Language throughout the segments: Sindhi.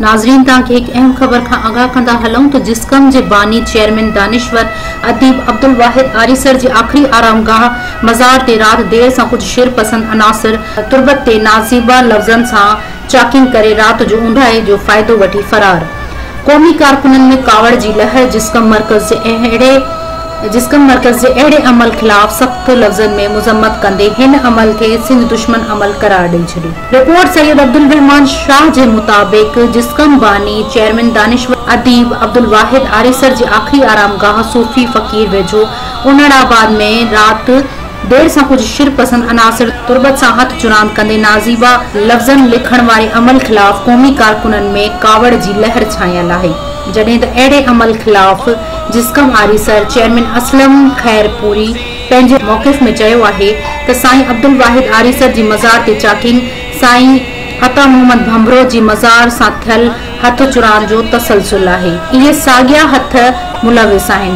ناظرين توهان کي هڪ اهم خبر کان آگاهه ڪندا هلون ته جسقم جي باني چيئرمين دانشور اديب عبدالواحد آريسر جي آخري آرام گاهه مزار تي رات دير سان ڪجهه شر پسند عناصر تربت تي نازيبا لفظن سان چاڪين ڪري رات جو اونداهي جو فائدو وٺي فرار قومي ڪارڪنن ۾ ڪاوڙ جي لهر جسقم مرڪز جي اهڙي جسقم مرڪز جي اهڙي عمل خلاف سخت لفظن ۾ مذمت ڪندي هن عمل کي سنڌ دشمن عمل قرار ڏئي ڇڏي. رپورٽ سيد عبدالرحمان شاهه جي مطابق جسقم باني چيئرمين دانشور اديب عبدالواحد آريسر جي آخري آرام گاهه صوفي فقير ويجهو انڙ آباد ۾ رات دير سان ڪجهه شر پسند عناصر تربت سان هٿ چراند ڪندي نازيبا لفظن لکڻ واري عمل خلاف قومي ڪارڪنن ۾ ڪاوڙ جي لهر ڇانيل آهي جڏهن ته اهڙي عمل خلاف جسقم آريسر چيئرمين اسلم خيرپوري پنهنجي موقف ۾ چيو آهي ته سائين عبدالواحد آريسر جي مزار تي چاڪين سائين عطا محمد ڀنڀرو جي مزار سان ٿيل هٿ چرائڻ جو تسلسل آهي. اهي ساڳيا هٿ ملوث آهن.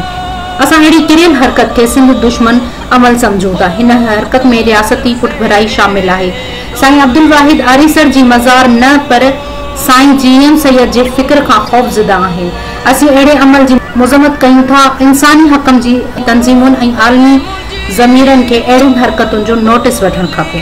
اسان اهڙي ڪريل حرڪت کي سنڌ دشمن عمل سمجهون ٿا. هن حرڪت ۾ رياستي پٺڀرائي شامل آهي. سائين عبدالواحد آريسر جي مزار نه پر سائين جي ايم سيد جي فڪر کان خوفزده آهن. اسين اهڙي عمل جي مذمت ڪيون ٿا. انساني حقن جي تنظيمن ۽ عالمي ضميرن کي اهڙين حرڪتن جو نوٽيس وٺڻ کپي.